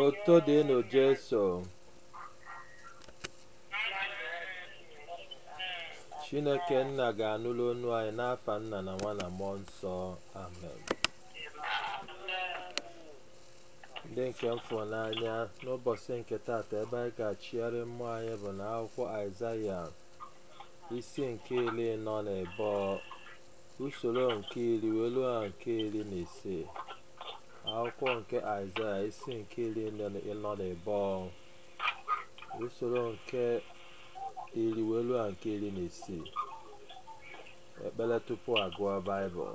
otito dịrị jesu chineke nna ga-anụrụ onu anyị n'afa nna na nwa na mmụọ nsọ amen ndị nke m fụrụ n'anya n'ụbọchị nke taata ebe anyị ga-achịgharị mmụọ anyị bụ na akwụkwọ aịzaya isi nke iri ịnọ na ịbụọ usoro nke iri wee ruo na nke iri na ise akwụkwọ nke aịzaya isi nke iri na ịnọ na ịbụọ usoro nke iri wee ruo nke iri na isii ekpere tupu agụọ baịbụl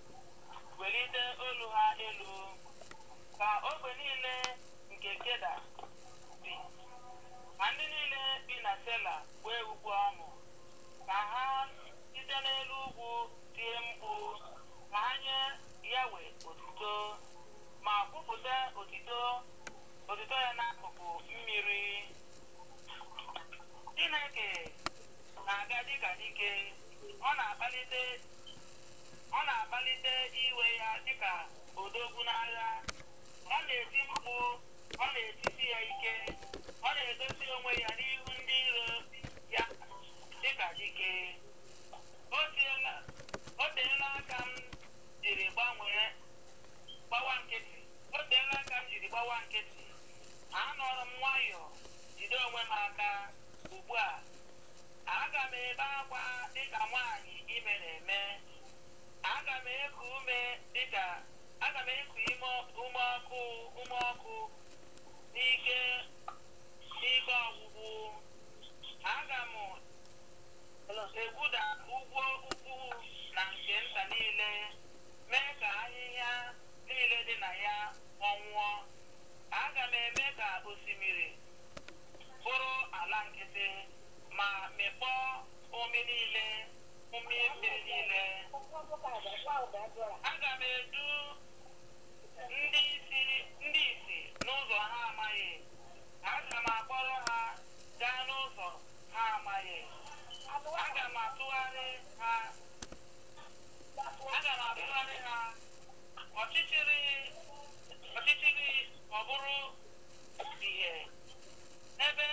welite olu ha elu ka ogbe niile nke keda bi ma ndị niile bi na sela kwee ukwe ọṅụ ka ha site n'elu ugwu tie mkpu ka ha nye yawe otito ma kwupụta otito otito ya n'akụkụ mmiri chineke na-aga dịka dike ọ na-akpalite ọ na-akpalite iwe ya dịka odogwu n'agha ọ na-eti mkpu ọ na-etisi ya ike ọ na-egosi onwe ya n'ihu ndị iro ya dịka dike o teela o teela aka m jiri gbanwee gbawa nkịtị o teela aka m jiri gbawa nkịtị anọrọ m nwayọọ jide onwe m aka ugbu a Aga m ebe akwa dịka nwaanyị ime na-eme. Aga m eku ume dịka aga m eku ime ume ọkụ ume ọkụ n'ike n'ike ọgwụgwụ. Aga m egwuda ugwu ukwu na nke nta niile, mee ka ahịhịa niile dị na ya kpọnwụọ. Aga m eme ka osimiri bụrụ ala nkịtị. ma mekpọọ umi niile umi mmiri niile aga m edu ndị isi ndị isi n'ụzọ ha amaghị aga m akpọrọ ha gaa n'ụzọ ha amaghị aga m atụgharị ha aga m atụgharị ha ọchịchịrị ọchịchịrị ọ bụrụ ihe ebe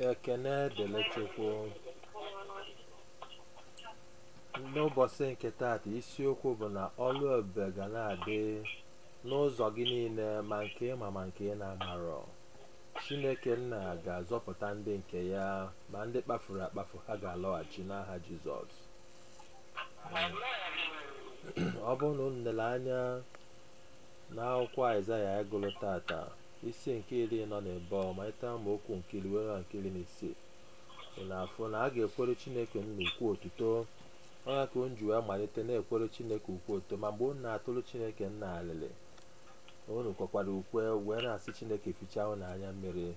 ekene dịrị chukwu n'ụbọsị nke taata isiokwu bụ na ọlụ ebube ga na-adị n'ụzọ gị niile ma nke ị ma ma nke ị na-amarọ Chineke nna ga-azọpụta ndị nke ya ma ndị kpafuru akpafu ha ga-alọghachi n'aha Jizọs ọ bụrụ na unu lere anya n'akwụkwọ Aịzaya anyị gụrụ tata isi nke iri anọ na abụọ malite amaokwu nke iri wee ruo nke iri na isii ị na-afụ na a ga-ekwere Chineke nna ukwe otuto ọ ya ka unu ji wee malite na-ekwere Chineke ukwe otuto ma mgbe unu na-atụrụ Chineke nna alịlị unu kwekwara ukwe wee na-asị chineke fichaa unu anya mmiri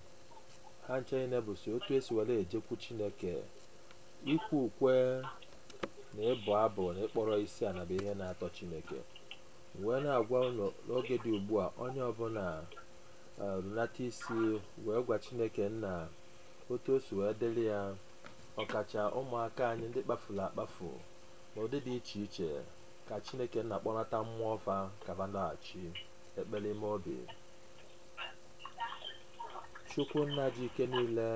ha ncha niile bụsi otu e si were ejekwu chineke ikwe ukwe na ịbụ abụ na ịkpọrọ isi ala bụ ihe na-atọ chineke wee na-agwa unu n'oge dị ugbu a onye ọbụla eh, runata isi wee gwa chineke nna otu o si wee dịrị ya ọkacha ụmụaka anyị ndị kpafuru akpafu n'ụdị dị iche iche ka chineke nna kpọnata mmụọ fa ka ba laghachi ekpere ime obi chukwu nna ji ike niile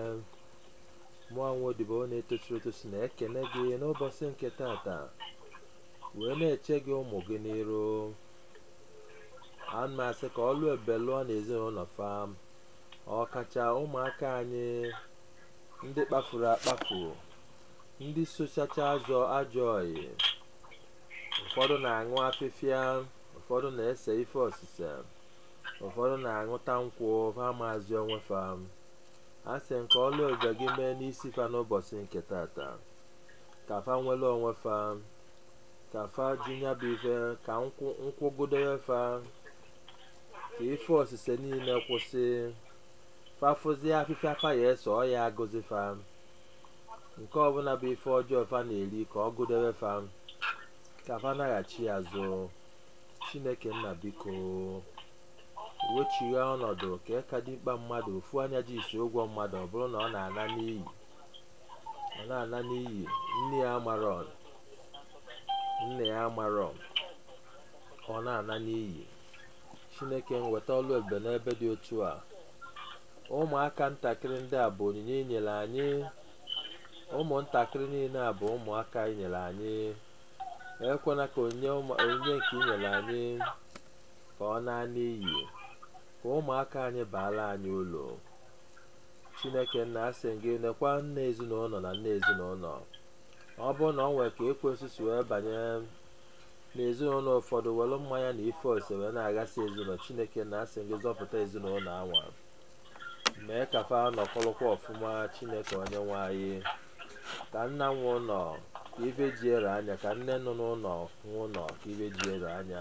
mụ nwa odibo na-etosirọ etosi na-ekene gị n'ụbọsị nke tata wee na-eche gị ụmụ gị n'iru ana m asị ka ọlụ ebube lụọ n'ezinụlọ fa ọkacha ụmụaka anyị ndị kpafuru akpafu ndị sochacha azọ ajọ ọyị ụfọdụ na-aṅụ afịfịa ụfọdụ na-ese ife osise ụfọdụ na-aṅụta nkwụ fa amazị onwe fa asị m ka ọlụ ebube gị mee n'isi fa n'ụbọsị nke tata ka fa nwere onwe fa ka fa jụ nya bụ ife ka nkwụ gụdewe fa ka ife osise niile kwụsị fa fụzie afịfịa fa ya-ese ọ ya agụzi fa nke ọbụla bụ ife ọjọọ fa na-eri ka ọ gụdebe fa ka fa naghachi azụ chineke nna biko wechigha ọnọdụ ka eka dimkpa mmadụ ofu anya ji isi ụgwọ mmadụ ọ bụrụ na ọ na-ana n'iyi nne ya amarọ nna ya amarọ ọ na-ana n'iyi chineke m weta ọlụ ebube n'ebe dị otu a ụmụaka ntakịrị ndị a bụ onyinye i nyere anyị ụmụntakịrị niile a bụ ụmụaka i nyere anyị ekwena ka onyinye nke i nyere anyị ka ọ naa n'iyi ka ụmụaka anyị baara anyị uru chineke nna asị gị nekwa nna ezinụlọ na nne ezinụlọ ọ bụrụ na o nwere ka ekwensu si wee banye na ezinụlọ ụfọdụ were mmanya na ife ose wee na-aghasị ezinụlọ chineke nna asị gị zọpụta ezinụlọ anwa mee ka fa nọkọrọkwa ọfụma chineke onye nwe anyị ka nna nwe ụlọ ka ife ji ere anya ka nne nọ n'ụlọ nwe ụlọ ka ife ji ere anya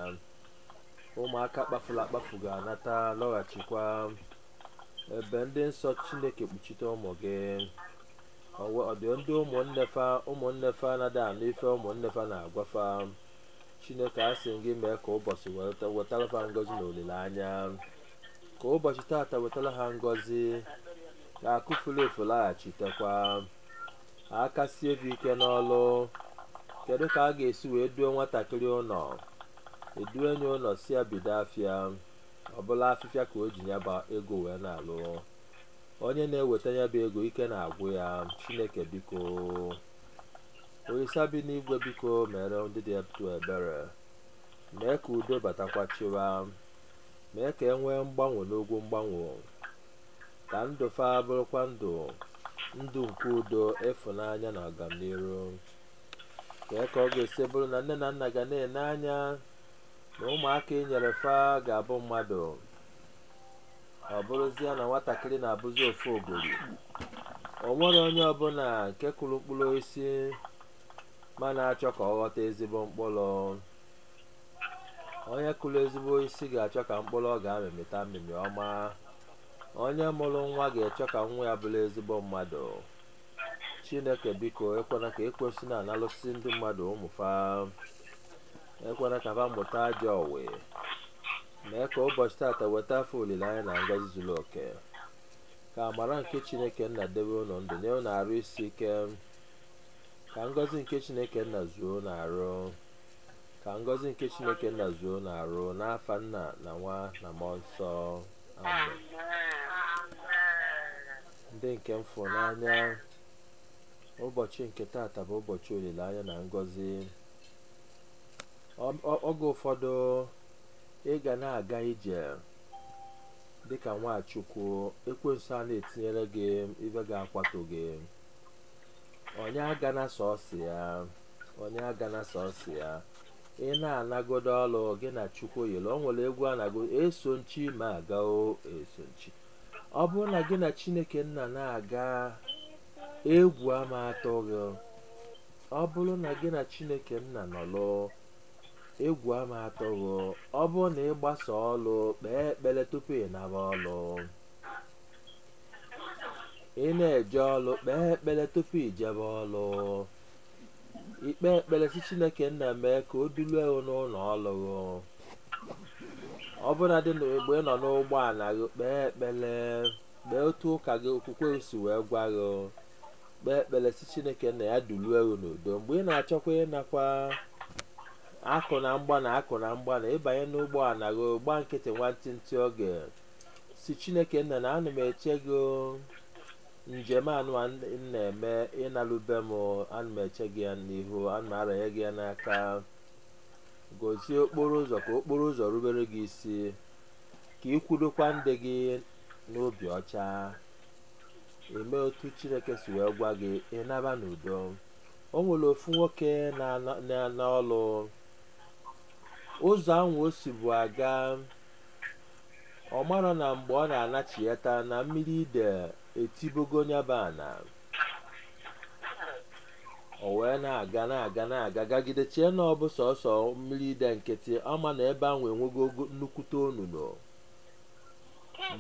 ụmụaka kpafuru akpafu ga-anata lọghachikwa ebe ndị nsọ chineke kpuchite ụmụ gị ọ dị ndị ụmụnne fa anaghị anụ ife ụmụnne fa na-agwa fa chineke a sị gị mee ka ụbọchị weta- wetara fa ngọzi na olileanya ka ụbọchị tata wetara ha ngọzi ka akụ furu efu laghachitekwa aka sie fa ike n'ọlụ kedu ka a ga-esi wee duo nwatakịrị ụlọ e duo ya ụlọ sị ya bido afịa ọ bụrụ afịfịa ka o ji ya bụ ego wee na-alụ onye na-eweta ya bụ ego ike na-agwụ ya chineke biko olisa bi n'igwe biko meere ndị dị etu a ebere mee ka udo batakwa chịwa mee ka e nwee mgbanwe n'ogwu mgbanwe ka ndụ fa bụrụkwa ndụ ndụ nke udo ịfụnanya na ọganiru kee ka ọ ga-esi bụrụ na nne na nna ga na-ene anya na ụmụaka i nyere fa ga-abụ mmadụ ọ bụrụzie na nwatakịrị na-abụzi ofogori o nwere onye ọbụla nke kụrụ mkpụrụ osisi ma na-achọ ka ọ ghọta ezigbo mkpụrụ onye kụrụ ezigbo osisi ga-achọ ka mkpụrụ ọ ga-amị mịta mmịmị ọma onye mụrụ nwa ga-achọ ka nwa ya bụrụ ezigbo mmadụ chineke biko ekwena ka ekwensu na-analụsị ndị mmadụ ụmụ fa ekwena ka ha mụta ajọ obi mee ka ụbọchị tata weta fa olileanya na ngọzi zuru oke ka amara nke chineke nna debe unu ndụ nye unu arụ isi ike ka ngọzi nke chineke nna zuo unu arụ ka ngọzi nke chineke nna zuo unu arụ n'afa nna na nwa na mmụọ nsọ amen ndị nke m fụrụ n'anya ụbọchị nke tata bụ ụbọchị olileanya na ngọzi Ọ- ọ- oge ụfọdụ ị ga na-aga ije dịka nwa chukwu ekwensu a na-etinyere gị ibe ga-akwatu gị onye agana sọsị ya onye agana sọsị ya ị na-anagodo ọlụ gị na chukwu yiri o nwere egwu a na-agụ eso m chi m aga o eso m chi ọ bụrụ na gị na chineke nna na-aga egwu ama atụ gị ọ bụrụ na gị na chineke nna nọlụ egwu ama atụ gị ọ bụrụ na ị gbasaa ọlụ kpee ekpere tupu ị naba ọlụ ị na-eje ọlụ kpee ekpere tupu i jebe ọlụ i kpee ekpere sị chineke nna mee ka o dulue gị n'ụlọ ọlụ gị ọbụnadị mgbe ị nọ n'ụgbọala gị kpee ekpere kpee otu ụka gị okwukwe gị si wee gwa gị kpee ekpere sị chineke nna ya dulue gị n'udo mgbe ị na-achọkwa ịnakwa akụ na mgba na ịbanye n'ụgbọ ala gị gba nkịtị nwantịntị oge sị chineke nna na ana m eche gị o. njem anụwa m na-eme ịnalu be m ana m eche gị ya n'ihu ana m aranye gị ya n'aka gozie okporo ụzọ ka okporo ụzọ rubere gị isi ka ị kwudokwa ndị gị n'obi ọcha i mee otu chineke si wee gwa gị ị naba n'udo o nwere ofu nwoke na-ana- na-ana ọlụ ụzọ ahụ o sibu aga ọ marọ na mgbe ọ na-anachiyata na mmiri ide etibogo nya bụ ana o wee na-aga na-aga na-aga gagide chee na ọ bụ sọsọ mmiri ide nkịtị ọ ma na ebe ahụ enwego ogo- nnukwute onunu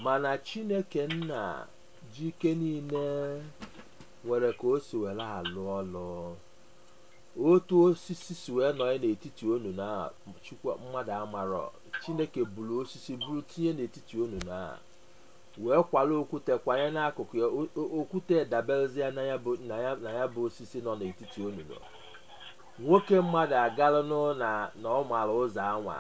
mana chineke nna ji ike niile nwere ka o si were alụ ọlụ otu osisi si wee nọọ n'etiti onunu a chukwu mmadụ amarọ chineke buru osisi buru tinye n'etiti onunu a wee kwala okwute kwanye n'akụkụ ya o- o- okwute daberezie na ya bụ na ya na ya bụ osisi nọ n'etiti onunu a nwoke mmadụ agalụnụ na na ọ mara ụzọ anwa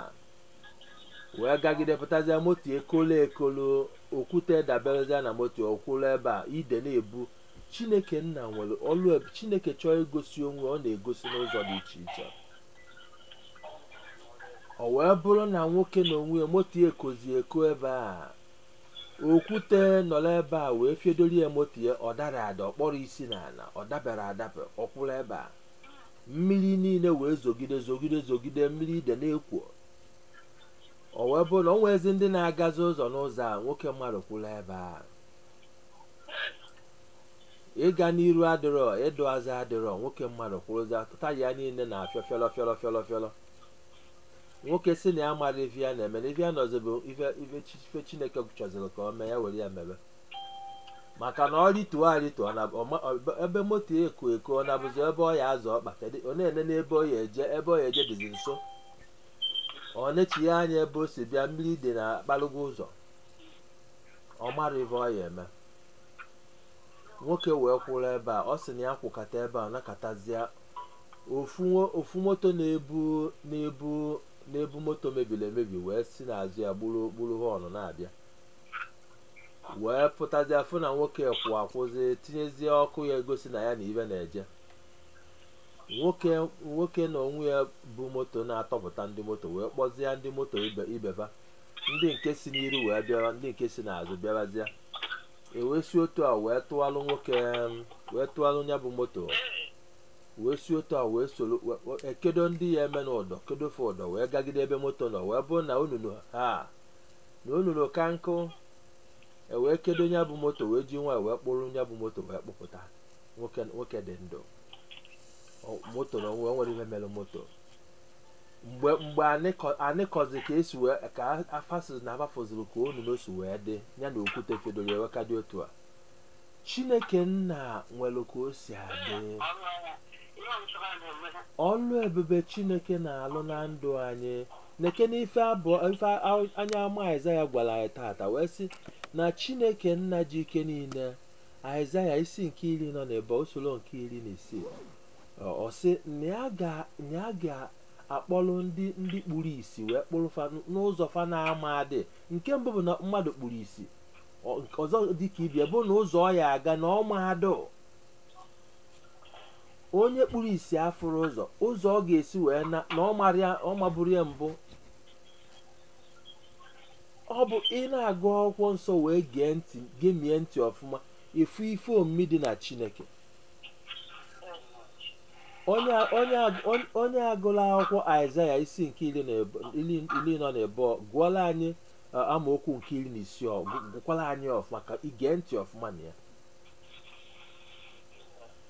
wee gagide pụtazịa moto ekolo ekolo okwute daberezịa na moto ọ kwụrụ ebe a ide na-ebu chineke nna nwere ọlụ ebube chineke chọọ igosi onwe ọ na-egosi n'ụzọ dị iche iche o wee bụrụ na nwoke na onwe ya moto ya ekozi eko ebe a okwute nọrọ ebe a wee fiedori ya moto ya ọ dara ada ọ kpọrọ isi n'ala ọ dabere adabe ọ kwụrụ ebe a mmiri niile wee zogide zogide zogide mmiri ide na-ekwo o wee bụrụ na o nwezi ndị na-agazi ụzọ n'ụzọ a nwoke mmadụ kwụrụ ebe a ịga n'iru adịrọ ịdụ azụ adịrọ nwoke mmadụ kwụrụzia taya niile na-afịọ fịọrọ fịọrọ fịọrọ fịọrọ nwoke sị na ya mara ife ya na-eme na ife ya nọzi bụ ife ife chi- ife chineke chọziri ka o mee ya were ya mebe maka na ọ rịtuo arịtuo ọ na- ọ ma- ọ- ebe moto eko eko ọ na-abụzi ebe ọ ya azọ ọkpa kedu ọ na-ene n'ebe ọ ya eje ebe ọ ya eje dịzi nso ọ na-echighe anya ebe o si bịa mmiri ide na akpalụgo ụzọ ọ mara ife ọ ya eme nwoke wee kwụrụ ebe a ọ sị na ya kwụkata ebe a ọ nọkatazie ofu nwo- ofu moto na-ebu na-ebu na-ebu moto mebiri emebi wee si n'azụ ya gburu gburu họnụ na-abịa wee pụtazia fụ na nwoke kwụ akwụzi tinyezie ọkụ ya egosi na ya na ibe na-eje nwoke nwoke na onwe ya bụ moto na-atọpụta ndị moto wee kpọzie ndị moto ibe ibeba ndị nke si n'iru wee bịara ndị nke si n'azụ bịarazịa e wee si otu a wee tụalụ nwoke em, wee tụalụ ya bụ moto wee si otu a wee soro we- we- ekedo ndị ya eme n'ụdọ kedofe ụdọ wee gagide ebe moto nọ wee bụrụ na onunu ha na onunu ka nkụ e wee kedo ya bụ moto wee ji nwayọ wee kpụrụ ya bụ moto wee kpụpụta nwoke nwoke dị ndụ Ọ- moto na onwe nwere ihe mere moto mgbe mgbe a na-akọ- a na-akọzi ka e si wee ka fa fụzi na fa fụziri ka onunu si wee dị ya na okwute fedoro ewe ka dị otu a chineke nna nwere ka o si adị ọlụ ebube chineke na-alụ na ndụ anyị nekene ife abụọ ife a- onye amụma aịzaya gwara anyị tata wee sị na chineke nna ji ike niile aịzaya isi nke iri nọ na ebo usoro nke iri na isii ọ ọ sị na ya ga- na ya ga-akpọrọ ndị ndị kpuru isi wee kpụrụ fa n- n'ụzọ fa na-ama adị nke mbụ bụ na mmadụ kpuru isi Ọ- nke ọzọ dị ka ibe ya bụ na ụzọ ọ ya aga na ọ ma adụ onye kpuru isi afụrọ ụzọ ụzọ ọ ga-esi wee na na ọ mara ya- ọ maburọ ya mbụ ọ bụ ị na-agụ akwụkwọ nsọ wee gee ntị gemie ntị ọfụma ị fụ ife omimi dị na chineke onye a- onye a- on- onye a gụla akwụkwọ aịzaya isi nke iri na ebo- iri iri nọ na ebo gụọla anyị ọ, amaokwu nke iri na isii ọ gụ- gụkwala anyị ọfụma ka i gee ntị ọfụma na ya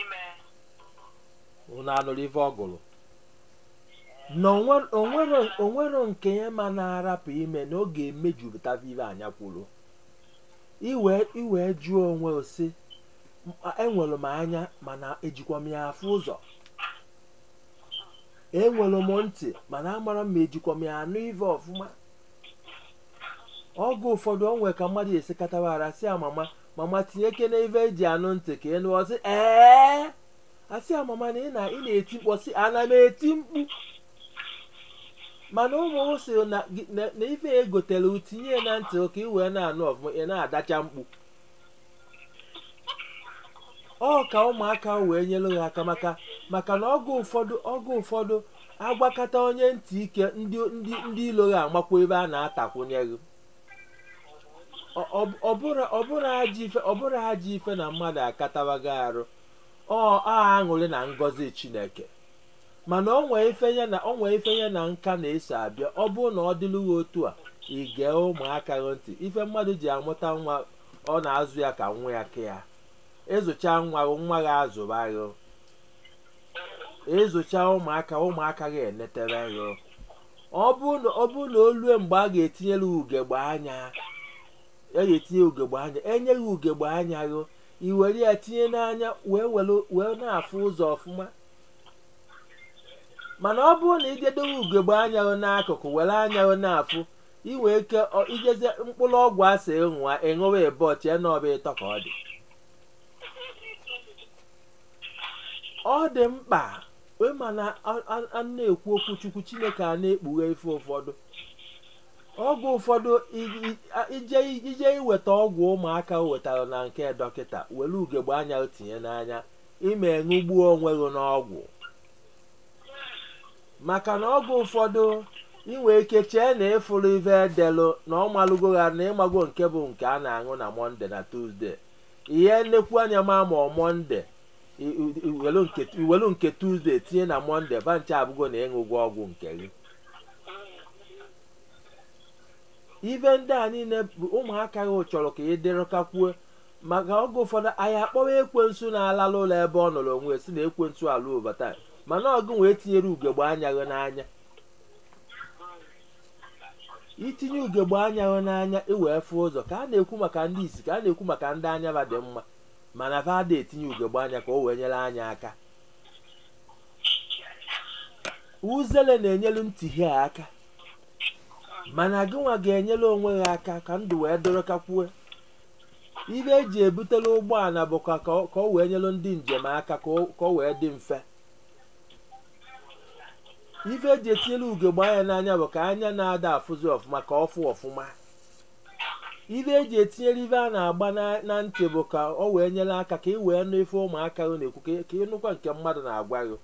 ime unu anụrụ ife ọ gụrụ na onwe- onwero onwero nke ya ma na-arapụ ime na ọ ga-emejupụta ife anya kwuru i wee i wee jụọ onwe gị sị enwere m anya mana ejikwa m ya afụ ụzọ enwere m ntị mana amarọ m ma ejikwa m ya anụ ife ọfụma oge ụfọdụ o nwe ka mmadụ esi akatawa arụ a sị ya mama mama tinyekene ife eji anụ ntị ka ị nụ ọ sị ee a sị ya mama na ị na- ị na-eti mkpu ọ sị ana m eti mkpu mana ụmụ m sị na gị- na- na ife ya egotere u tinye ya na ntị ka ị wee na-anụ ọfụma ị na-adacha mkpu ọ ka ụmụaka wee nyere gị aka maka maka na oge ụfọdụ oge ụfọdụ a gwakata onye ntị ike ndị ndị ndị ilo gị amakwa ife a na-atakwunye gị ọ bụrọ ajọ ife ọ bụrọ ajọ ife na mmadụ akatawago arụ ọ aṅụrị na ngọzi chineke mana o nwe ife ya na o nwe ife ya na nka na-eso abịa ọ bụrụ na ọ dịlụ gị otu a i gee ụmụaka gị ntị ife mmadụ ji amụta nwa ọ na-azụ ya ka nwa ya ke ya ị zụcha nwa gị nwa gị azụba gị ị zụcha ụmụaka ụmụaka gị enetere gị ọ bụrụ na ọ bụrụ na o lue mgbe a ga-etinyere ugegbe anya a ga-etinye ugegbe anya e nye gị ugegbe anya gị i were ya tinye n'anya wee were wee na-afụ ụzọ ọfụma mana ọ bụrụ na i je dowe ugegbe anya gị n'akụkụ were anya gị na-afụ i nwe ike ọ- i jezi mkpụrụ ọgwụ a sị ị ṅụa ị ṅụwa ịbọ chee na ọ bụ ịtọ ka ọ dị ọ dị mkpa ị ma na a- a- a na-ekwu okwu chukwu chineke a na-ekpughe ife ụfọdụ oge ụfọdụ i- i- a- i je i je iweta ọgwụ ụmụaka gị wetara na nke dọkịta were ugegbe anya gị tinye n'anya i me ṅụgbuo onwe gị n'ọgwụ maka na oge ụfọdụ i nwe ike chee na ị fụrụ ife edelụ na ọ malụgo ha na ị mago nke bụ nke a na-aṅụ na mọnde na tuzde ihe nnekwu anya ma ma mọnde i welu nke tuzde tinye na mọnde ba ncha abụgo na ị ṅụgo ọgwụ nke gị ife ndị a niile bụ ụmụaka gị chọrọ ka ị dịrị kakwuo maka oge ụfọdụ anyị akpọwa ekwensu na-alalụ ụla ebe ọ nọrọ onwe ya sị na ekwensu alụ obata mana ọ gị nwa etinyerọ ugegbe anya gị n'anya itinye ugegbe anya gị n'anya i wee fụ ụzọ ka a na-ekwu maka ndị isi ka a na-ekwu maka ndị anya ba dị mma mana fa ada etinye ugegbe anya ka o wee nyere anya aka uzele na-enyelu ntị gị aka mana gịnwa ga-enyere onwe gị aka ka ndụ wee dọrọ kakwue ife eji ebutela ụgbọala bụ ka ka ọ ka ọ wee nyere ndị njem aka ka ọ- ka ọ wee dị mfe ife eji etinyere ugegbe anya n'anya bụ ka anya na-ada afụzi ọfụma ka ọ fụ ọfụma ife eji etinyere ife a na-agba na- na ntị bụ ka ọ wee nyere aka ka ị wee nụ ife ụmụaka gị na-ekwu ka- ka ịnụkwa nke mmadụ na-agwa gị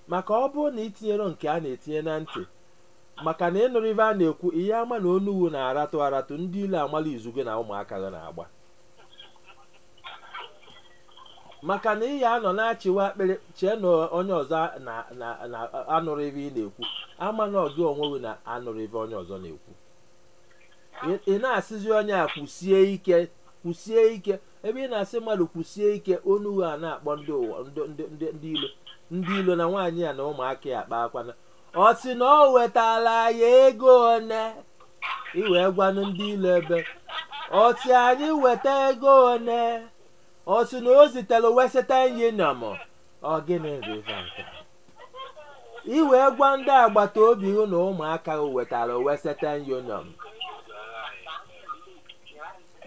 maka ọ bụrụ na itinyero nke a na-etinye na ntị maka na ịnụrọ ife a na-ekwu ị ya ama na onu gị na-aratụ aratụ ndị ilo amala izu gị na ụmụaka gị na-agba maka na ị ya anọ na-achịwa akpịrị chee na onye ọzọ na- na- na- anụrọ ife ị na-ekwu ama na ọ gị onwe gị na-anụrọ ife onye ọzọ na-ekwu Ị- ị na-asịzi onye a kwusie ike kwusie ike ebe ị na-asị mmadụ kwusie ike onu gị a na-akpọ ndị ụwa ndị ndị ndị ndị ilo ndị ilo na nwaanyị a na ụmụaka ya akpakwana ọ sị na o wetara ya ego one i wee gwanụ ndị ilo ebe ọ sị anyị weta ego one ọ sị na o zitere western union ọ gịnị riva nke a? i wee gwa ndị agbata obi gị na ụmụaka gị wetara western union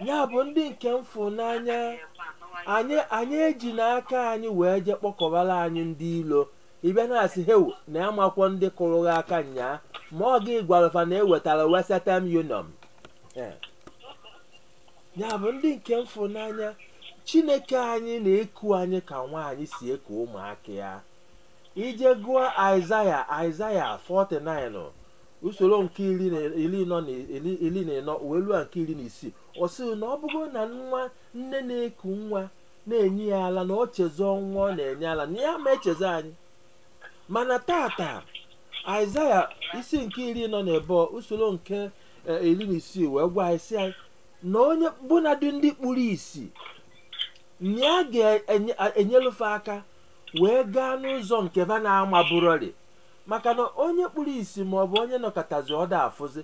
ya bụ ndị nke m fụ n'anya anyị anyị eji n'aka anyị wee jee kpọkọbara anyị ndị ilo ịbịa na-asị hewu na amakwọ ndị kụrụ gị aka nyaa ma ọ gị gwara fa na ewetara western union Eh. ya bụ ndị nke m fụ n'anya chineke anyị na-eku anyị ka nwaanyị si eku ụmụaka ya i je gụọ aịzaya aịzaya 49 usoro nke iri na iri nọ na iri iri na ịnọ wee ruo nke iri na isii ọ sịrị na ọ bụrụ na nwa nne na-eku nwa na-enye ya ala na ọ chezọọ nwa ọ na-enye ala na ya ma echezọ anyị mana tata aịzaya isi nke iri nọ na ịbụọ, usoro nke eh, iri na isii wee gwa anyị sị anyị na onye bụnadị ndị kpuru isi na ya ga-enyelu fa aka wee gaa n'ụzọ nke ba na-amaburọrị maka na onye kpuru isi ma ọ bụ onye nọkatazị ọ da-afụzi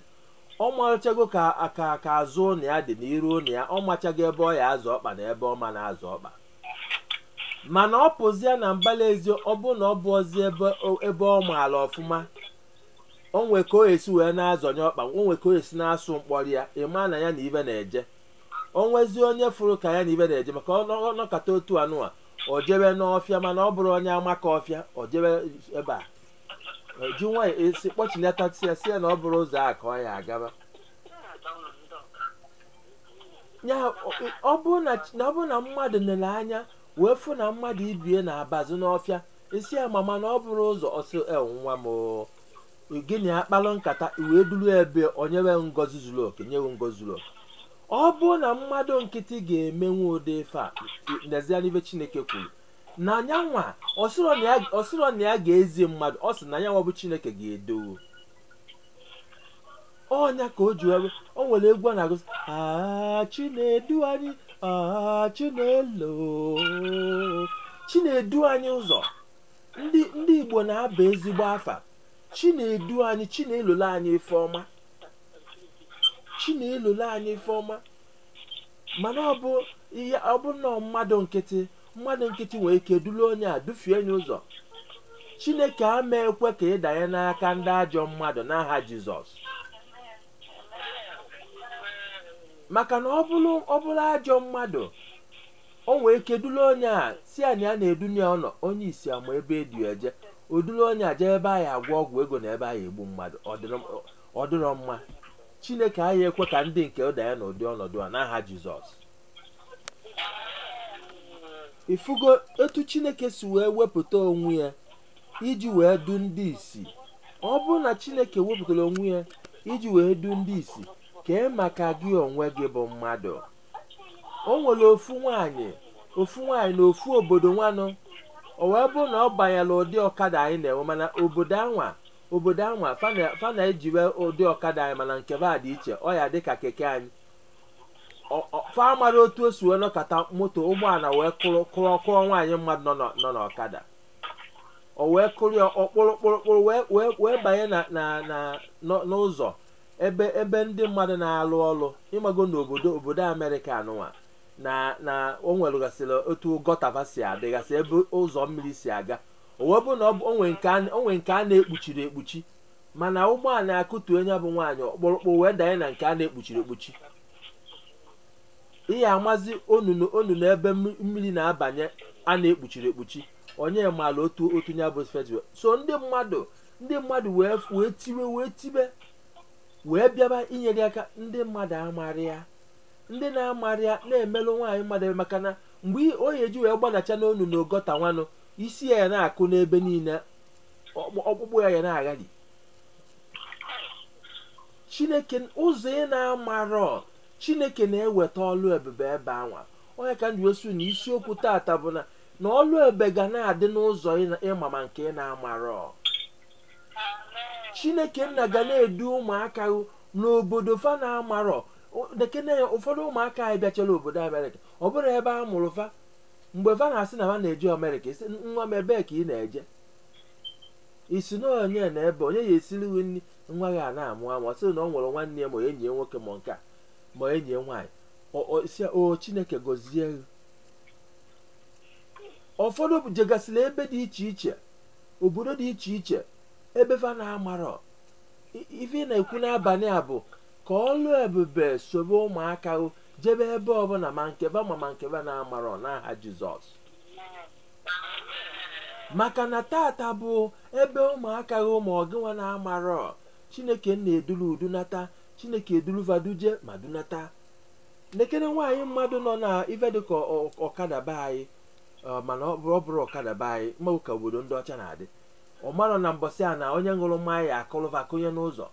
ọ machago ka aka ka azụ ụnọ ya dị na iru ụnọ ya ọ machago ebe ọ ya azọ ọkpa na ebe ọ ma na-azọ ọkpa mana ọ pụzia na mbala ezi ọ bụ na ọ bụrọzi ebe o- ebe ọ maara ọfụma o nwe ka o esi wee na-azọnye ọkpa o nwe ka o esi na-asụ mkpọrọ ya ịma na ya na ibe na-eje o nwezi onye fụrụ ka ya na ibe na-eje maka ọ nọ- ọ nọkata otu anụwa o jebe n'ọfịa mana ọ bụrụ onye amaka ọfịa o jebe ebe a ji nwayọ esi kpọchilatasị ya sị ya na ọ bụrọ ụzọ a ka ọ ya agaba ya ọ- ọ bụrụ na chi- na ọ bụrụ na mmadụ nere anya wee fụ na mmadụ ibe ya na-abazi n'ọfịa ị sị ya mama na ọ bụrọ ụzọ sowa m oo. gị na ya akpalụ nkata wee duru ebe onye nwe ngozi zuru oke nyewe ngozi zuru oke ọ bụrụ na mmadụ nkịtị ga-emenwu ụdị ife a nezie n'ife chineke kwuru na nya nwa ọ sịrọ na ya- ọ sịrọ na ya ga-ezi mmadụ ọ sị na nya nwa bụ chineke ga-edu onye a ka o ji wee bụrụ- o nwere egwu a na-agụ sị "Ah, chinedu anyị ah, chinelo chinedu anyị ụzọ ndị ndị igbo na-aba ezigbo afa chinedu anyị chinelola anyị ife ọma chinelola anyị ife ọma mana ọ bụ ihe ọ bụ nnọọ mmadụ nkịtị mmadụ nkịtị nwere ike duru onye a dufie nya ụzọ chineke ama ekwe ka ị danye n'aka ndị ajọ mmadụ n'aha jizọs maka na ọ bụrụ ọ bụrụ ajọ mmadụ o nwere ike duru onye a sị ya na ya na-edu nya ụnọ onye isi ama ebe e du ya eje o duru onye a jee ebe a ya-agwọ ọgwụ ego na ebe a ya-egbu mmadụ ọ dịrọ- ọ dịrọ mma chineke aya-ekwe ka ndị nke ya danye n'ụdị ọnọdụ a n'aha jizọs ifugo etu chineke si wee wepụta onwe ya iji wee du ndị isi ọ bụrụ na chineke wepụtara onwe ya iji wee du ndị isi kee maka gị onwe gị bụ mmadụ o nwere ofu nwanyị ofu nwanyị na ofu obodo nwanụ o wee bụrụ na ọ banyere ụdị ọkada anyị na-enwe mana obodo anwa obodo anwa fa na- fa na-ejiwe ụdị ọkada anyị mana nke ba dị iche ọ ya-adị ka keke anyị fa amarọ otu o si wee nọkata moto ụgbọala wee kụrụ kụrụ kụọ nwaanyị mmadụ nọ n'ọ- nọ n'ọkada o wee kụrụ ya ọ kpụrụ kpụrụ kpụrụ wee wee wee banye na na na n'ọ- n'ụzọ ebe ebe ndị mmadụ na-alụ ọrụ ị mago n'obodo obodo amerịka anụnwa na na o nweregasịrị otu gọta va si adịgasị ebe ụzọ mmiri si aga o wee bụ na ọ bụ- o nwere nke a- o nwere nke a na-ekpuchighị ekpuchi mana ụgbọala akụtuo nya bụ nwaanyị ọ kpụrụ kpụ wee danye na nke a na-ekpuchighị ekpuchi ị ya-amazi onunu onunu ebe mmi- mmiri na-abanye a na-ekpuchighị ekpuchi onye maara otu otu ya bụ festival so ndị mmadụ ndị mmadụ wee wee tiwe wee tibe wee bịaba inyere ya aka ndị mmadụ amaghị ya ndị na-amaghị ya na-emelụ nwaanyị mmadụ ebele maka na mgbe ọ ya-eji wee gbadacha n'onunu gọta nwanụ isi ya ya na-akụ n'ebe niile ọkpụ- ọkpụkpụ ya ya na-aghali chineke ụzọ ị na-amarọ chineke na-eweta ọlụ ebube ebe anwa ọ ya ka m ji wee sị na isiokwu tata bụ na na ọlụ ebube ga na-adị n'ụzọ ị na- ịma ma nke ị na-amarọ chineke nna ga na-edu ụmụaka gị n'obodo fa na-amarọ O- nekene ya ụfọdụ ụmụaka anyị bịachara obodo amerịka ọ bụrọ ebe a mụrụ fa mgbe fa na-asị na fa na-eje amerịka ị sị nwa m ebee ka ị na-eje ị sị na onye na ebe onye ya-esiri gị nri nwa gị ana-amụ amụ ọ sịrị na ọ nwere nwanne ya ma enyi ya nwoke ma nke a ma enyi ya nwaanyị ọ- ọ sị ya, o chineke gọzie gị ụfọdụ jegasịrị ebe dị iche iche obodo dị iche iche ebe fa na-amarọ I- ife ị na-ekwu n'abalị a bụ ka ọlụ ebube sobe ụmụaka gị jebe ebe ọbụla ma nke fa ma ma nke fa na-amarọ n'aha jizọs maka na tata bụ ebe ụmụaka gị ma ọ gịnwa na-amarọ chineke nna eduru dunata chineke eduru fa duje ma dunata nekene nwaanyị mmadụ nọ na ife dịka ọ- ọkada be anyị ọ, mana ọ bụrọ ọ bụrọ ọkada be anyị ị manụ ka obodo ndị ọcha na-adị ọ marọ na mbọsị a na onye ṅụrụ mmanya ya-akụrụ fa kụnye n'ụzọ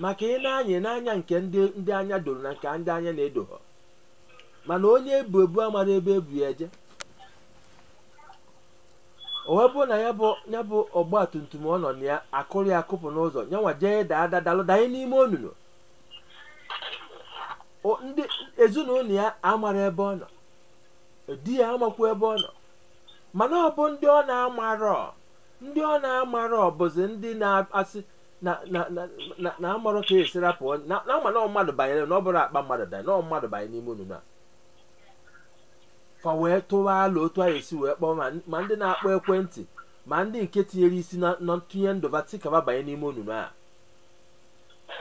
maka ị na-anya ị na-anya nke ndị ndị anya doro na nke ndị anya na-edoghọ mana onye e bu ebu amarọ ebe e bu ya eje o wee bụrụ na ya bụ ya bụ ọgba tum tum ọ nọ na ya a kụrụ ya kụpụ n'ụzọ nyanwa jee daa ada dalụ danye n'ime onunu O- ndị ezinụlọ ya amarọ ebe ọ nọ di ya amakwa ebe ọ nọ mana ọ bụ ndị ọ na-amarọ ndị ọ na-amarọ bụzi ndị na-asị na na na na na amarọ ka e si rapụ onye- na na ama na ọ mmadụ banyere na ọ bụrọ akpa mmadụ danye na ọ mmadụ banye n'ime onunu a fa wee tụwa alo otu e si wee kpọọ ma ma ndị na-akpọ ekwentị ma ndị nke tinyere isi na na ntụnye ndụ fa sị ka fa banye n'ime onunu a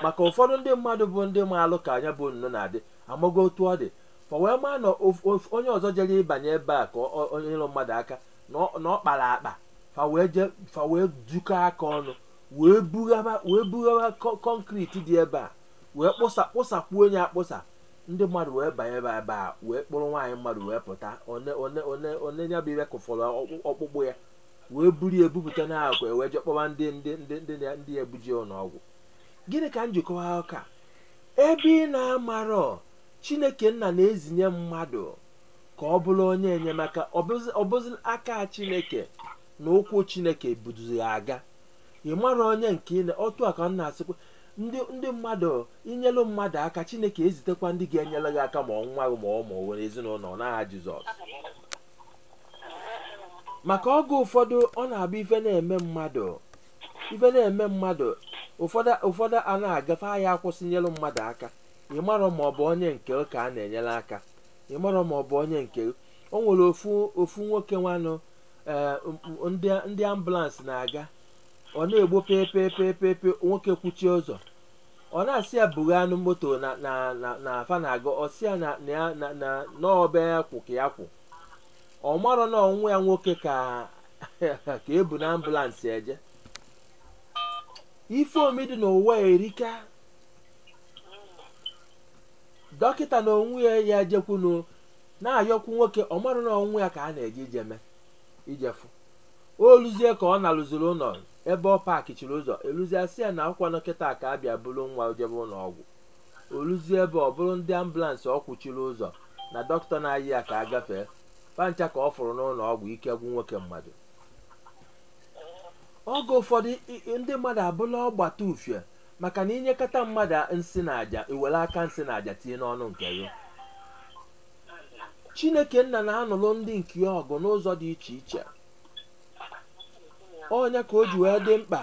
maka ụfọdụ ndị mmadụ bụ ndị maalụ ka nya bụ onunu na-adị amago otu ọ dị fa wee maa na of- of- onye ọzọ jere ịbanye ebe a ka ọ- ọ- o nyelụ mmadụ aka na ọ- na ọ kpara akpa fa wee je fa wee jikọ aka ọnụ wee bughaba wee bughaba kọ- kọnkriti dị ebe a wee kpụsa kpụsakwuo ọnụ ya akpụsa ndị mmadụ wee banye ebe ebe a wee kpụrụ nwaanyị mmadụ wee pụta one one one one ya bụ ife kụfọrọ ọkpụ- ọkpụkpụ ya wee buru ya bupụta na akwa ya wee je kpọba ndị ndị ndị ndị ya- ndị ya-ebuje ụlọ ọgwụ gịnị ka m ji akọwa ụka ebe ị na-amarọ chineke nna na-ezinye mmadụ ka ọ bụrụ onye enyemaka ọ bụzi- ọ bụzi aka chineke na ụkwụ chineke buduzi ya aga ị mara onye nke ị na otu a ka m na-asịkwa ndị ndị mmadụ inyelu mmadụ aka chineke ezitekwa ndị ga-enyere gị aka ma ọ nwa gị ma ọ ma onwe ezinụlọ n'aha jizọs maka oge ụfọdụ ọ na-abụ ife na-eme mmadụ ife na-eme mmadụ ụfọdụ ụfọdụ a na-agafe ahịa akwụsị nyere mmadụ aka ị marọ ma ọ bụ onye nke ka a na-enyere aka ị marọ ma ọ bụ onye nke o nwere ofu ofu nwoke nwanụ ee, m- m- ndị ndị ambụlansị na-aga ọ na-egbu pepepepepe nwoke kwụchie ụzọ ọ na-asị ya bughanụ moto na na na na fa na-aga ọ sị ya na na ya na na na ọ ebe ya kwụ ka ya kwụ ọ marọ na ọ nwa ya nwoke ka ka e bu na ambụlansị eje ife omi dị n'ụwa erika dọkịta na onwe ya ya jekwunu na-ayọkwu nwoke ọ marọ na ọ nwa ya ka a na-eje ije mee ijefụ o luzie ka ọ na-eluziri ụlọ ebe ọ paakịchiri ụzọ e luzie a sị ya na ọ kwanụ kịta ka a bịa buru nwa jebe ụlọ ọgwụ o luzie ebe ọ bụrụ ndị ambụlansị ọ kwụchiri ụzọ na dọkịta na-ayọ ya ka a gafee fa ncha ka ọ fụrụ n'ụlọ ọgwụ ike gwụ nwoke mmadụ oge ụfọdụ i- i- ndị mmadụ abụla ọgbata ufie maka na i nyekata mmadụ a nsị na aja i were aka nsị na aja tinye n'ọnụ nke gị chineke nna na-anụrụ ndị nke ya ọgụ n'ụzọ dị iche iche ọ nya ka o ji wee dị mkpa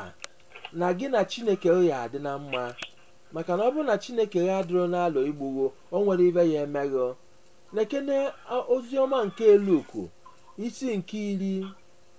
na gị na chineke ga-adị na mma maka na ọ bụrụ na chineke ya adịrọ n'alụ igbu ghị o nwere ife ya-eme ghị lekene oziọma nke luku isi nke iri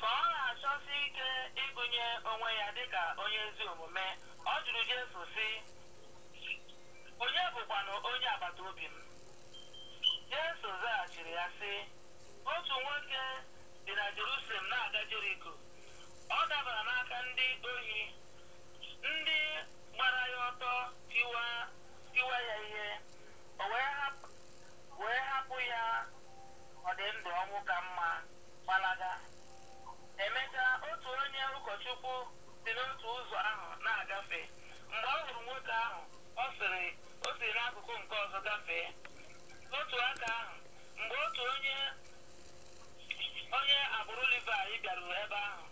Ka ọ na-achọsi ike ịgụnye onwe ya dị ka onye ezi omume, ọ jụrụ Jesu, sị, Onye bụkwanụ onye agbata obi m? Jesu zaghachiri ya, sị, Otu nwoke dị na Jerusalem na-aga Jeriko. Ọ dabara n'aka ndị ohi, ndị gbara ya ọtọ tiwa tiwa ya ihe, o wee hapụ wee hapụ ya ọ dị ndụ ọnwụ ka mma gbalaga emechaa otu onye ụkọchukwu si n'otu ụzọ ahụ na-agafe mgbe ọ hụrụ nwoke ahụ o siri o si n'akụkụ nke ọzọ gafee n'otu aka ahụ mgbe otu onye onye agbụrụ Livaị bịaruru ebe ahụ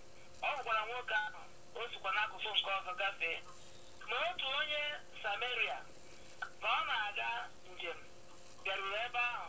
ọ hụkwara nwoke ahụ o sikwa n'akụkụ nke ọzọ gafee ma otu onye Sameria ka ọ na-aga njem bịaruru ebe ahụ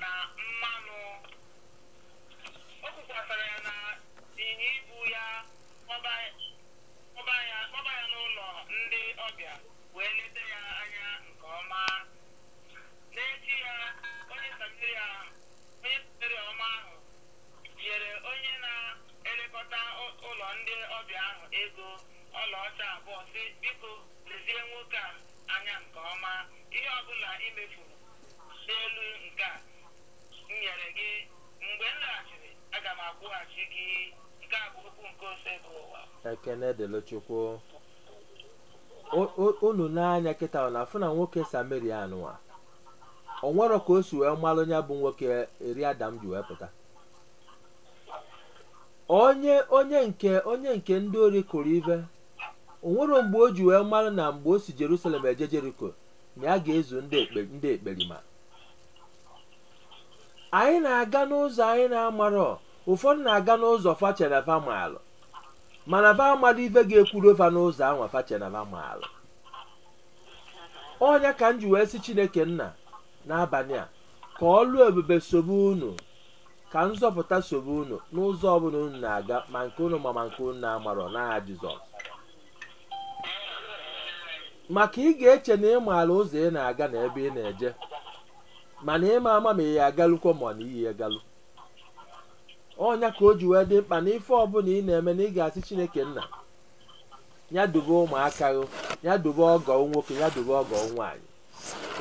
na mmanụ o kukwasara ya na ịnyịnya ibu ya kpọba kpọba ya kpọba ya n'ụlọ ndị ọbịa wee leta ya anya nke ọma n'echi ya onye sameria onye sameria ọma ahụ nyere onye na-elekọta ụ- ụlọ ndị ọbịa ahụ ego ọlaọcha abụọ sị biko lezie nwoke a anya nke ọma ihe ọbụla i mefuru ekene dịlụ chukwu unu n'anya kịta na-afụ na nwoke samaria anụwa o nwerọ ka o si wee malụ ya bụ nwoke eri adam ji wee pụta onye onye nke onye nke ndị ori kụrụ ive o nwere mgbe o ji wee malụ na mgbe o si jerusalem eje jeriko na ya ga-ezu ndị ekpe- ndị ekperima anyị na-aga n'ụzọ anyị na-amarọ ụfọdụ na-aga n'ụzọ fa chee na fa maalụ mana fa amarọ ife ga-ekwuru fa n'ụzọ anwa fa chee na fa maalụ ọ nya ka m ji wee sị chineke nna n'abalị a ka ọlụ ebube sobe unu ka nzọpụta sobe unu n'ụzọ ọbụla unu na-aga ma nke unu ma ma nke unu na-amarọ n'aha jizọs maka ị ga-eche na ị maara ụzọ ị na-aga na ebe ị na-eje mana ị ma ama ma ị ya agalukwa ma na i yi egalu ọ nya ka o ji wee dị mkpa na ife ọbụla ị na-eme na ị ga-asị chineke nna ya dube ụmụaka gị ya dube ọgọ nwoke ya dube ọgọ nwaanyị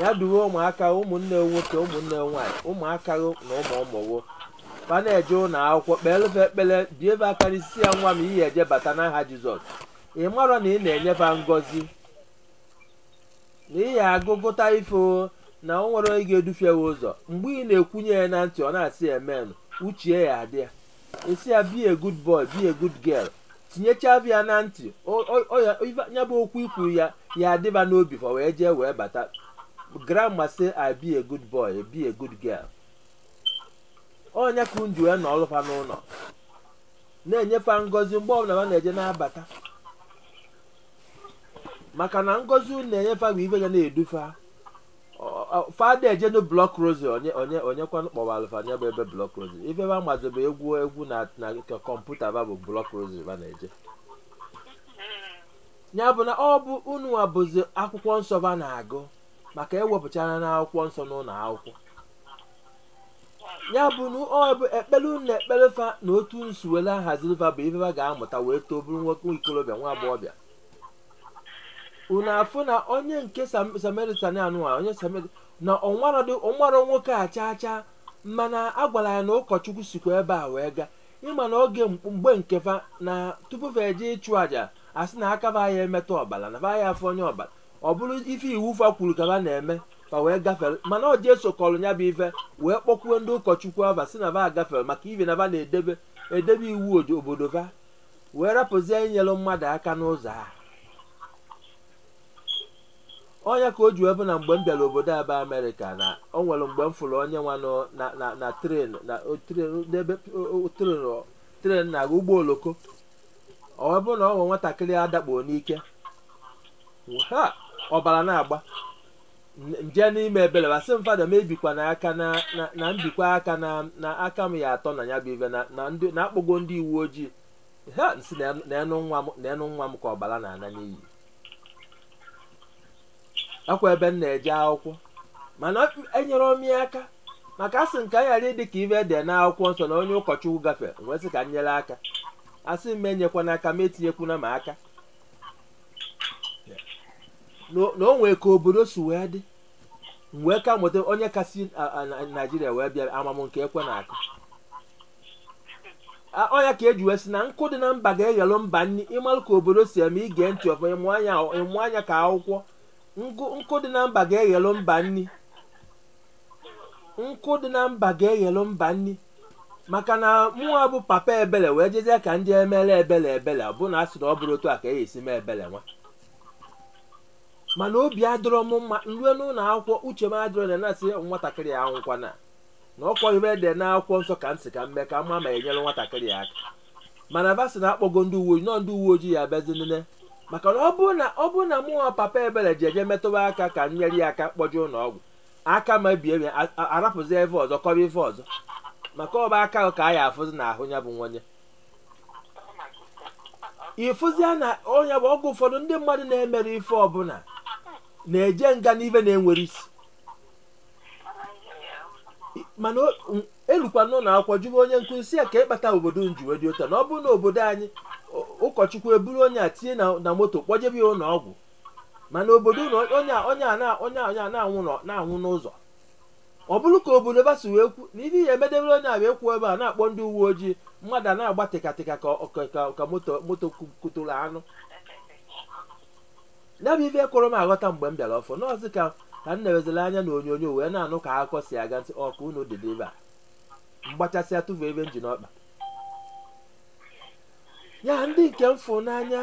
ya dube ụmụaka gị ụmụnne gị nwoke ụmụnne gị nwaanyị ụmụaka gị na ụmụ ụmụ gị fa na-eje ụlọ akwụkwọ kpeelụ fa ekpere bie be aka n'isi ya nwa m ị ya eje bata n'aha jizọs ị mara na ị na-enye fa ngọzi na ị ya agụ gụta ife o, na o nwerọ onye ga-edufie ya ụzọ mgbe ị na-ekwunye ya na ntị ọ na-asị amen uche ya adị ya asị ya be a good boy be a good girl tinyechaa ya na ntị o- o- o ya- ife- ya bụ okwu i kwu ya ya adịba n'obi fa wee jee wee bata grandma say i be a good boy be a good girl ọ nya ka unu ji wee nọọlụ fa n'ụlọ na-enye fa ngọzi mgbe ọbụla ha na-eje na-abata maka na ngọzi unu na-enye fa bụ ife ga na-edu fa Ọ- ọ- fa ada ejenu block rosary onye onye onye kwanụ kpọwara fa nya bụ ebe block rosary ife ba mazị bụ egwu egwu na na ka kọmputa ba bụ block rosary ba na-eje ya bụ na ọ bụ unu nwa bụzi akwụkwọ nsọ ba na-agụ maka e wepụchaana akwụkwọ nsọ n'ụlọ akwụkwọ ya bụ na ọ bụ ekpere unu na-ekpere fa na otu unu si were ahaziri fa bụ ife fa ga-amụta wee too bụrụ nwoke nwa ikorobịa nwa agbọghọbịa unu afụ na onye nke Sam- samaritan anụwa onye samaria na ọ marọdị ọ marọ nwoke a chaa chaa mana a gwara ya na ụkọchukwu sikwa ebe a wee gaa ịma na oge mkp- mgbe nke fa na tupu fa eje ịchụ àjà asị na aka fa ya emetụ ọbara na fa ya afụ onye ọbara ọ bụrụ ife iwu fa kwuru ka fa na-eme fa wee gafere mana ọ Jesu kọrọ ya bụ ife wee kpọkwuo ndị ụkọchukwu ava sị na va gafere maka ife na va na-edebe edebe iwu odo- obodo va wee rapụzie inyere mmadụ aka n'ụzọ a ọ ya ka o ji wee bụ na mgbe m bịara obodo a bụ amerịka na o nwere mgbe m fụrụ onye nwa nọ na na na tren na o- tren n'ebe o- o- tren o- tren na ụgbọ oloko ọ wee bụrụ na ọ nwere nwatakịrị a dakpuo n'ike ha ọbara na-agba N- nje n'ime ebere ba sị m fada m ebikwana aka na na- na m bikwa aka na na aka m ya atọ na ya bụ ife na na ndị na akpọgo ndị uwe ojii ha m sị na ya- na ya nụ nwa m na ya nụ nwa m ka ọbara na-ana n'iyi ọkwa ebe m na-eje akwụkwọ mana enyere m ya aka maka asị m ka m ghara ịdị ka ife dị n'akwụkwọ nsọ na onye ụkọchukwu gafere m wee sị ka m nyere aka a sị m enyekwana aka m etinyekwana m aka na na o nwee ka obodo si wee dị m wee ka mụta onye ka si a- a- na- naijiria wee bịa ama mụ nke ekwe na-akụ A- ọ ya ka e ji wee sị na nkụ dị na mba ga-eghelụ mba nri ịmalụ ka obodo si eme ige ntị ọfụma ịmụ anya ịmụ anya ka akwụkwọ nkụ nkụ dị na mba ga-eghelụ mba nri nkụ dị na mba ga-eghelụ mba nri maka na mụnwa bụ papa ebele wee jezie ka ndị emere ebele ebele ọ bụ na a sị na ọ bụrọ otu a ka e si eme ebele nwa mana obi adịrọ m mma m rue n'ụlọ akwụkwọ uche m adịrọ na na-asị nwatakịrị a anwụkwana na ọkwa ife dị n'akwụkwọ nsọ ka m sị ka m mee ka m ma ma enyere nwatakịrị ya aka mana ba sị na akpọgo ndị uwe ojii na ndị uwe ojii ya abịazi nene maka na ọ bụrụ na ọ bụrụ na mụ nwa papa ebere ji eje metụba aka ka m nyere ya aka kpọje ụlọ ọgwụ aka m ebie ya a- a- arapụzi ife ọzọ kọba ife ọzọ maka ọ bụ aka ahụ ka a ya afụzi n'ahụ ya bụ nwanye ịfụzi ya na ọ ya bụ ọgwụ ụfọdụ ndị mmadụ na-emerọ ife ọbụla na-eje nga n'ife na-enwerọ isi mana elukwa n'ụlọ akwụkwọ jụwa onye nkụzi sị ya kee ife kpata obodo unu ji wee dị otu a na ọ bụrụ na obodo anyị ụkọchukwu eburu onye a tinye na moto kpọjebe ya ụlọ ọgwụ mana obodo na onye onye a onye onye a na-anwụ n'ụzọ ọ bụrụ ka obodo ba si wee kwu na ihe ya emedebere onye a wee kwuo ebe a na-akpọ ndị uwe ojii mmadụ a na-agba tịkatịka ka moto moto kụtụrụ anụ ya bụ ife kụrụ m aghọta mgbe m bịara ọfụ n'ọzi ka ka m na-ewezila anya na onyonyo wee na-anụ ka akụkọ si aga ntị ọka unu dịdị ebe a mgbachasịa tụfu ebe m ji n'ọkpa ya ndị nke m fụ n'anya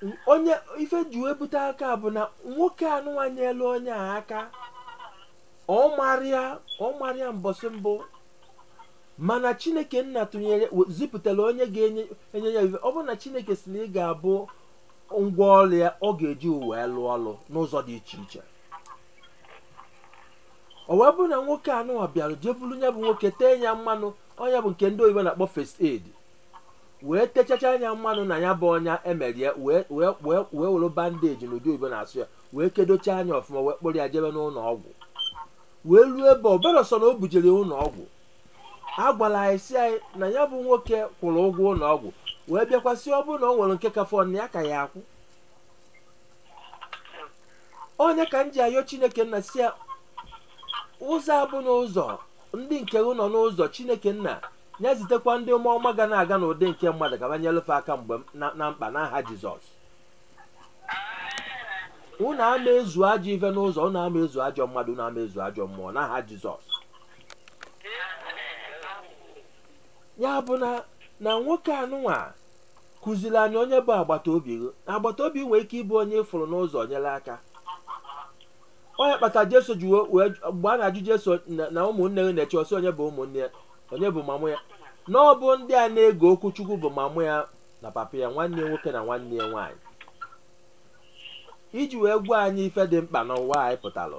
m- onye ife ji wee bute aka bụ na nwoke anụnwa nyelu onye a aka ọ marọ ya ọ marọ ya mbọsị mbụ mana chineke nna tụnyere we- zipụtara onye ga-enye enye ya ife ọ bụrụ na chineke sị na ị ga-abụ ngwa ọrụ ya ọ ga-eji wee lụọ ọrụ n'ụzọ dị iche iche o wee bụrụ na nwoke anụwa bịara jee buru ya bụ nwoke tee ya mmanụ ọnya bụ nke ndị oyibo na-akpọ first aid wee techachaa nya mmanụ na ya bụ ọnya emerie wee wee wee wee were bandeji n'ụdị oyibo na-asụ ya wee kedochaa nya ọfụma wee kpọrọ ya jebe n'ụlọ ọgwụ wee ruo ebe ọ bụrọ sọ na o bujere ya ụlọ ọgwụ a gwara anyị sị anyị na ya bụ nwoke kwụrụ ụgwọ ụlọ ọgwụ wee bịakwasị ọ bụrụ na ọ nwere nke ka fọ na ya ka ga-akwụ ọ nya ka m ji ayọ chineke nna sị ya ụzọ abụ n'ụzọ ndị nke gị nọ n'ụzọ chineke nna ya zitekwa ndị mmụọ ọma ga na-aga n'ụdị nke mmadụ ka ba nyelu fa aka mgbe m- na- na mkpa n'aha jizọs unu ama ezu ajọ ife n'ụzọ unu ama ezu ajọ mmadụ unu ama ezu ajọ mmụọ n'aha jizọs ya bụ na na nwoke anụnwa kụziri anyị onye bụ agbata obi gị agbata obi nwere ike ịbụ onye ị fụrụ n'ụzọ nyere aka ọ nya kpata jesu ji wee- wee mgbe a na-ajụ jesu na na ụmụnne gị na-eche ọ sị onye bụ ụmụnne ya onye bụ mama ya na ọ bụ ndị a na-ege okwu chukwu bụ mama ya na papa ya nwanne ya nwoke na nwanne ya nwaanyị iji wee gwa anyị ife dị mkpa n'ụwa anyị pụtara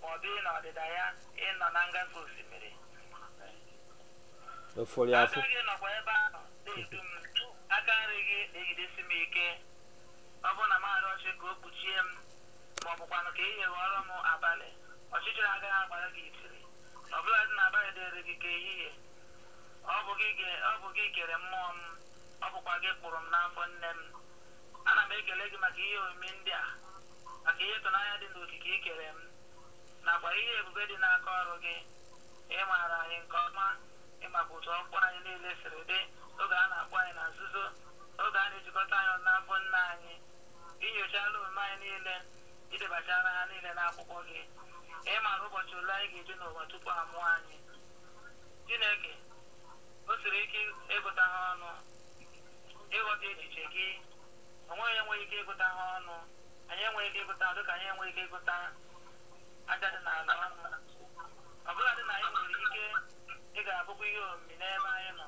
ma ọ bụ ị nọ n'ọdịda ya ị nọ na ngafe osimiri aka gị nọkwa ebe ahụ na-edu m aka nri gị na-ejidesi m ike ọ bụrụ na m arịọ ọchị ka o kpuchie m ma ọ bụkwanụ ka ihe ghọrọ m abalị ọchịchịrị agaghị agbara gị itiri ọ bụladị na abalị dịrị gị ka ehihie ọ bụ gị ge- ọ bụ gị kere mmụọ m ọ bụkwa gị kpụrụ m n'afọ nne m ana m ekele gị maka ihe omimi ndị a maka ihe ịtụnanya dị n'okike i kere m nakwa ihe ebube dị n'aka ọrụ gị ị maara anyị nke ọma ị makwa otu ọkpụkpụ anyị niile siri dị oge a na-akpụ anyị na nzuzo oge a na-ejikọta anyị ọnụ n'afọ nne anyị i nyochala omume anyị niile i debachara ha niile n'akwụkwọ gị ị maara ụbọchị ole anyị ga-ebi n'ụwa tupu a mụọ anyị chineke o siri ike ịgụta ha ọnụ ịghọta echiche gị onweghị onye nwere ike ịgụta ha ọnụ anyị enweghị ike ịgụta ha dịka anyị enweghị ike ịgụta aja dị n'ala ọnụ ọ bụrụdị na anyị nwere ike ị ga-abụkwa ihe omimi n'ebe anyị nọ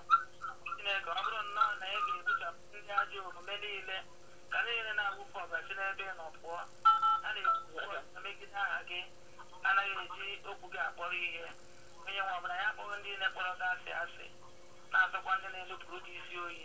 chineke ọ bụrụ nnọọ na ị ga-egbuchapụ ndị ajọ omume niile ka ndị niile na-awụfu ọbara si n'ebe ị nọ pụọ ha na-ekwu ọbụla megide aha gị anaghị eji okwu gị akpọrọ ihe onye nwe m ọ bụ na anyị akpọghị ndị niile kpọrọ gị asị asị na-asọkwa ndị na-enupụrụ gị isi oyi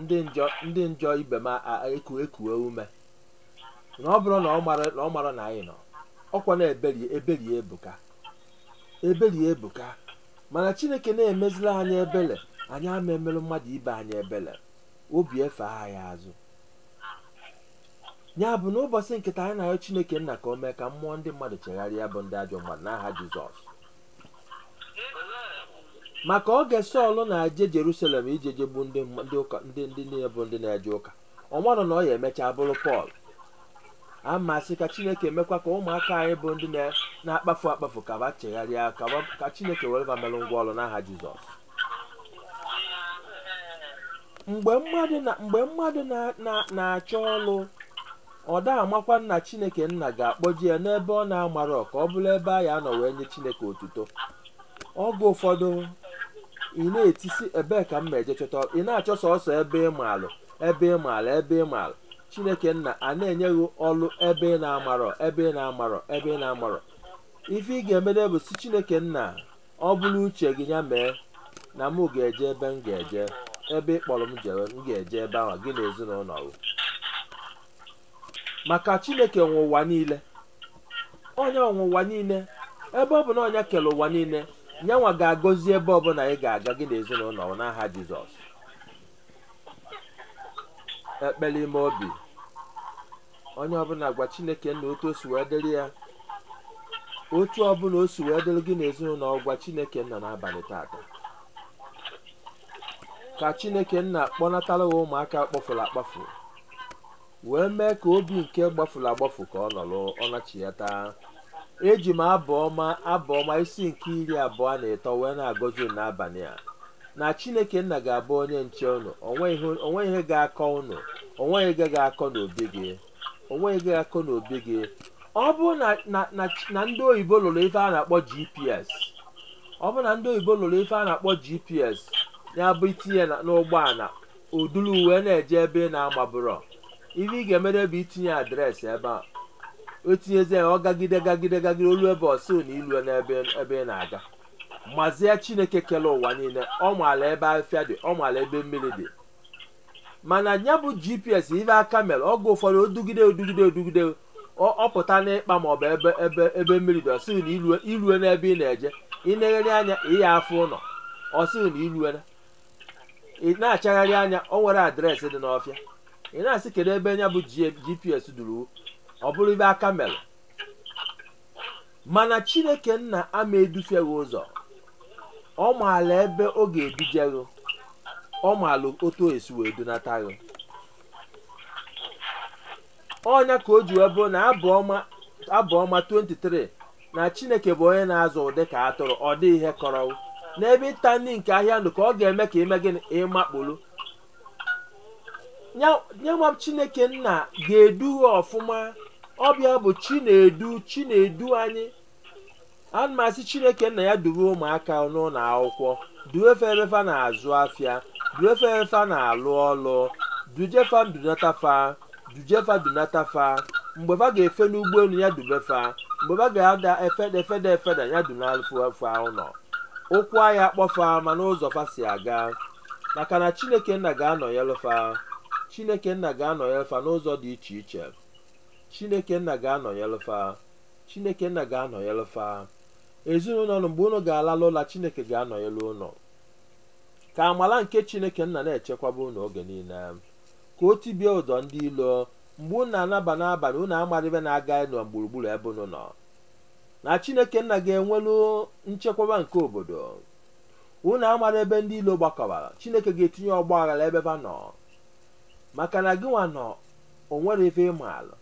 ndị njọ ndị njọ ibe m a- a- eku ekue ume na ọ bụrụ na ọ mara na ọ mara na anyị nọ ọkwa na ebere ebere ya ebuka ebere ya ebuka mana chineke na-emezila anyị ebele anyị ama emerụ mmadụ ibe anyị ebele obi efe anyị azụ ya bụ na ụbọchị nke taa anyị na-ayọ chineke nna ka o mee ka mmụọ ndị mmadụ chegharịa bụ ndị ajọ mmadụ n'aha jizọs maka oge sọl na-eje jerusalem ije jegbu ndị mma- ndị ụka ndị ndị niile bụ ndị na-eje ụka ọ marọ na ọ ya-emechaa bụrụ pọl a m asị ka chineke mekwa ka ụmụaka anyị bụ ndị na- na-akpafu akpafu ka ba chegharịa ka ba- ka chineke were ba merụ ngwa ọrụ n'aha jizọs mgbe mmadụ na mgbe mmadụ na- na- na-achọ ọrụ ọ da-amakwa na chineke nna ga-akpọje ya n'ebe ọ na-amarọ ka ọ bụrụ ebe a ya-anọ wee nye chineke otuto oge ụfọdụ ị na-etisi ebee ka m ma eje chọta ị na-achọ sọsọ ebe ị maalụ ebe ị maalụ ebe ị maalụ chineke nna a na-enye gị ọlụ ebe ị na-amarọ ebe ị na-amarọ ebe ị na-amarọ ife ị ga-emede bụ sị chineke nna ọ bụrụ uche gị ya mee na mụ ga-eje ebe m ga-eje ebe ị kpọrọ m jewe m ga-eje ebe ahụ gị na ezinụlọ gị maka chineke nwe ụwa niile onye nwe ụwa niile ebe ọ bụ na nya kere ụwa niile nyanwa ga-agọzi ebe ọbụla ị ga-aga gị na ezinụlọ gị n'aha jizọs ekpere ime obi onye ọbụla gwa chineke nna otu o si wee dịrị ya otu ọbụla o si wee dịrị gị n'ezinụlọ gwa chineke nna n'abalị tata ka chineke nna kpọnatara gị ụmụaka kpafuru akpafu wee mee ka obi nke gbafuru agbafu ka ọ nọrọ ọ nachiata eji m abụ ọma abụ ọma isi nke iri abụọ na ịtọ wee na-agọzi unu n'abalị a na chineke nna ga-abụ onye nche unu onwe ihe ga-akọ unu onwe ihe ga-akọ n'obi gị onwe ihe ga-akọ n'obi gị ọ bụrụ na ndị oyibo lụrụ ife a na-akpọ gps ọ bụrụ na ndị oyibo lụrụ ife a na-akpọ gps ya bụ i tinye n'ụgbọala o dulu wee na-eje ebe ị na-amabụrọ ife ị ga-emere bụ itinye adreesị ebe a i tinyezie ya ọ gagide gagide gagide o lue ebe ọ sị na i lue n'ebe ị na-aga mazie chineke kere ụwa niile ọ maala ebe afịa dị ọ maala ebe mmiri dị mana ya bụ gps ife aka mere oge ụfọdụ o dugide o dugide o dugide ọ- ọ pụta n'ikpa maọbụ ebe ebe ebe mmiri dị ọ sị gị na i lue i lue n'ebe ị na-eje ị na-eghere anya ị ya afụ ụlọ ọ sị gị na i lue na ị na-achagharị anya o nwere adreesị dị n'ọfịa ị na-asị kedu ebe ya bụ G- gps duru ọ bụrụ ife aka mere mana chineke nna ama edufe gị ụzọ ọ maala ebe ọ ga-eduje gị ọ maala otu o esi wee dunata gị ọ nya ka o ji wee bụrụ na abụ ọma abụ ọma 23 na chineke bụ onye na-azụ m dị ka atụrụ ọ dịghị ihe kọrọ n'ebe ịta nri nke ahịhịa ndụ ka ọ ga-eme ka i mee gịnị ị makpuru Ya- yanwa chineke nna ga-edu ha ọfụma ọ bụ ya bụ chinedu chinedu anyị ana m asị chineke nna ya duwe ụmụaka n'ụlọ akwụkwọ duwe fa ebe fa na-azụ afịa duwe fa ebe fa na-alụ ọlụ duje fa dunata fa duje fa dunata fa mgbe fa ga-efe n'ụgbọelu ya dube fa mgbe fa ga-ada efeda efeda efeda ya dunalụ fa ụlọ ụkwụ aya akpọ fa ma n'ụzọ fa si aga maka na chineke nna ga-anọnyelụ fa chineke nna ga-anọnyelụ fa n'ụzọ dị iche iche chineke nna ga-anọnyelụ fa chineke nna ga-anọnyelụ fa ezinụlọ unu mgbe unu ga-alalụ ụla chineke ga-anọnyelụ unu ka amala nke chineke nna na-echekwaba unu oge niile ka o tibie ụdọ ndị ilo mgbe unu na-anaba n'abalị unu amarọ ife na-aganụ gburugburu ebe unu nọ na chineke nna ga-enwelu nchekwaba nke obodo Unu amarọ ebe ndị ilo gbakọbara, Chineke ga-etinye ọgba aghara ebe va nọ, maka na gị nwa nọ o nwerọ ife ị maara,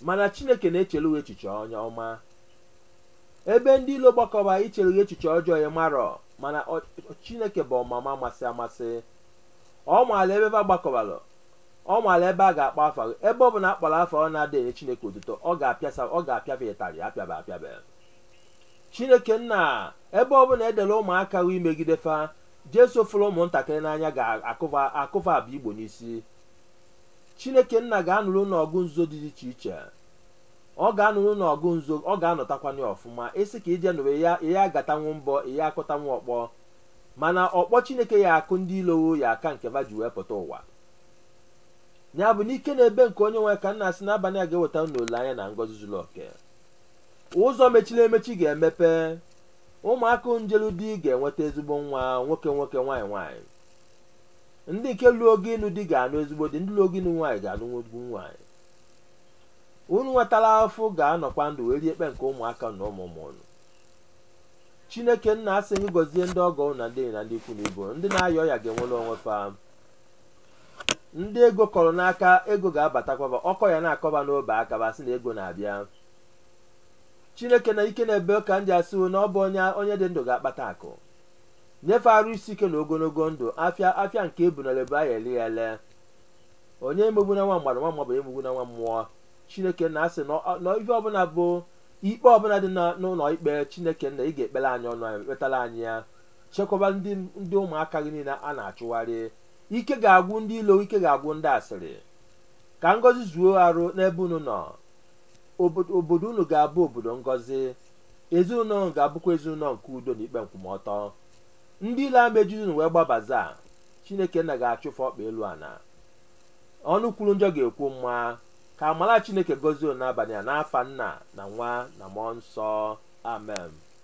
mana Chineke na-echere gị echiche onye ọma. Ebe ndị ilo gbakọbara ichere gị echiche ọjọọ ị marọ, mana ọ- ọ- Chineke bụ amama amasị amasị. Ọ maara ebe va gbakọbara, ọ maara ebe a ga-akpọ afa gị. Ebe ọ bụla a kpọrọ afa gị na-adịghị enye Chineke otuto, ọ ga-apịasa ọ ga-apịa va ịtarị apịaba apịaba. chineke nna ebe ọbụla e dere ụmụaka gị imegide fa jesu fụrụ ụmụntakịrị n'anya ga-akụ va akụ va abụ igbo n'isi chineke nna ga-anụrụ unu ọgụ nzuzo dị iche iche ọ ga-anụrụ unu ọgụ nzuzo ọ ga-anụtakwanụ ya ọfụma ị sị ka i je nụrụ ya ị ya agbatanwu mbọ ị ya akụtanwu ọkpọ mana ọkpọ chineke ya akụ ndị ilo gị ya aka nke va ji wee pụta ụwa ya bụ n'ike na ebube nke onye nwe ka m na-asị n'abalị a ga-eweta unu olileanya na ngọzi zuru oke ụzọ mechiri emechi ga-emepe ụmụaka ndị jelu di ga-enweta ezigbo nwa nwoke nwoke nwaanyị nwaanyị ndị nke luo oge ịnụ di ga-anụ ezigbo di ndị luo oge ịnụ nwaanyị ga-anụ ezigbo nwaanyị unu nwa tara afụfụ ga-anọkwa ndụ wee rie ekpe nke ụmụaka na ụmụ ụmụ unu chineke nna asị m gị gọzie ndị ọgọ unu na ndị enyi na ndị ikwu na ibe ndị na-aya ọya ga-enwere onwe fa ndị ego kọrọ n'aka ego ga-abatakwaba ọkọ ya na-akọ ba n'ọbọ aka ba sị na ego na-abịa chineke nna ike na-ebe ka ndị asịwo na ọ bụ onye onye dị ndụ ga-akpata akụ nye fa arụ isi ike na ogologo ndụ afịa afịa nke ebu na lebe aya ele ya ele onye emegbuna nwa mmadụ nwa mmadụ emegbuna nwa mmụọ chineke nna asị na ọ- na ife ọbụla bụ ikpe ọbụla dị na- n'ụlọ ikpe chineke nna ị ga-ekpere anyị ọnụ anyị kpetara anyị ya chekwaba ndị ndị ụmụaka gị niile a na-achụgharị ike ga-agwụ ndị ilo ike ga-agwụ ndị asịrị ka ngọzi zuo arụ n'ebe unu nọ Obodo- obodo unu ga-abụ obodo ngọzi ezinụlọ unu ga-abụkwa ezinụlọ nke udo na ikpe nkwụmọtọ ndị ilo ama ejizi unu wee gbabaza chineke nna ga-achụ fa ọkpa elu ana ọnụ kwuru njọ ga-ekwu mma ka amara chineke gọzie unu n'abalị a n'afa nna na nwa na mmụọ nsọ amen